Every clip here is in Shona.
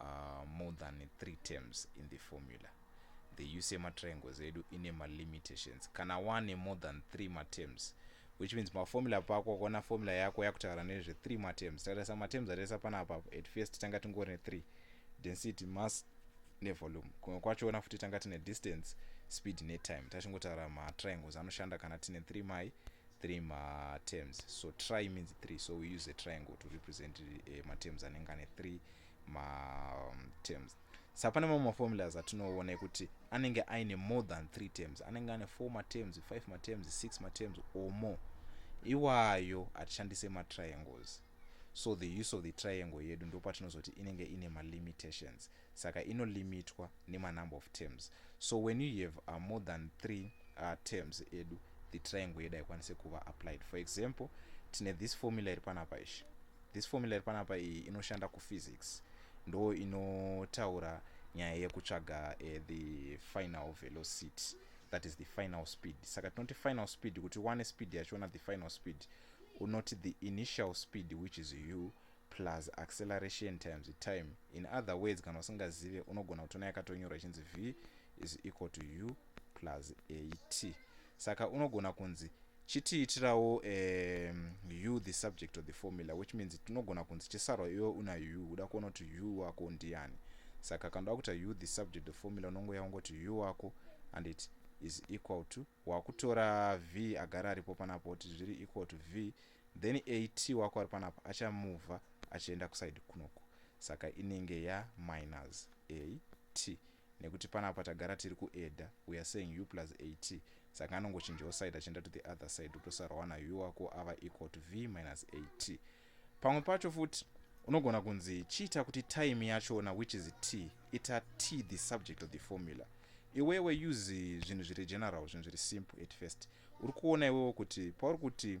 uh, more than three terms in the formula the use yematriangles edu ine malimitations kana wane more than three matems which means maformula pako kuona formula yako yakutaura nezve three matems tarisa matems ataisa panapa at first tanga tingori nethree density mass nevolume kumwe kwachoona futi tanga tine distance speed netime tachingotaura matriangles anoshanda kana tine three mai three materms so tri means three so we use a triangle to represent uh, materms anenge ane three materms um, sa pane mamwe maformulas atinoona ekuti anenge aine more than three terms anenge ane four materms five materms six materms or more iwayo hatishandise matriangles so the use of the triangle yedu ndopatinozoti inenge ine malimitations ma saka ino limitwa nema number of terms so when you have uh, more than three uh, terms edu the triangle yedu haikwanise kuva applied for example tine this formula iri panapa ishi this formula iri panapa iyi inoshanda kuphysics ndo inotaura nyaya yekutsvaga uh, the final velocity that is the final speed saka tinoti final speed kuti one speed yachiona the final speed unoti the initial speed which is u plus acceleration times time in other words kana usingazive unogona kutona yakatonyorwa ichinzi v is equal to u plus at saka unogona kunzi chitiitirawo um, u the subject of the formula which means tinogona kunzi chisarwa iwe una u uda kuona kuti u wako ndiani saka kana uda kuita u the subject of formula unongoya ungoti u wako and it is equal to wakutora v agara aripo panapo kuti zviri equal to v then at wako ari panapa achamuvha achienda kusaidi kunoku saka inenge yaminus at nekuti panapa tagara tiri kueda weare saying u plus at saka anongochinjawo side achienda to the other side utosarwa na u wako ava equal to v minus at pamwe pacho futi unogona kunzi chiita kuti time yachona which is t ita t the subject of the formula iwewe use zvinhu zviri general zvinhu zviri simple at first uri kuona iwewo kuti pauri kuti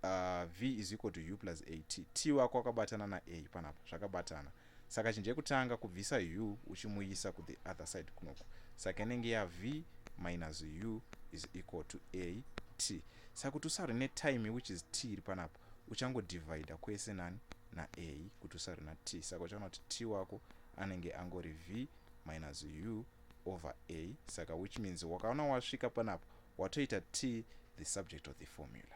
uh, v is equal to u plus at t wako wakabatana na a panapa zvakabatana saka chinja yekutanga kubvisa u uchimuisa kuthe other side kunoku saka inenge ya v minus u is equal to a t saka kuti usarwe netime which is t iri panapa uchangodivida kwese nani na a kuti usarwe na t saka uchaona kuti t wako anenge angori v minus u over a saka which means wakaona wasvika panapa watoita t the subject of the formula.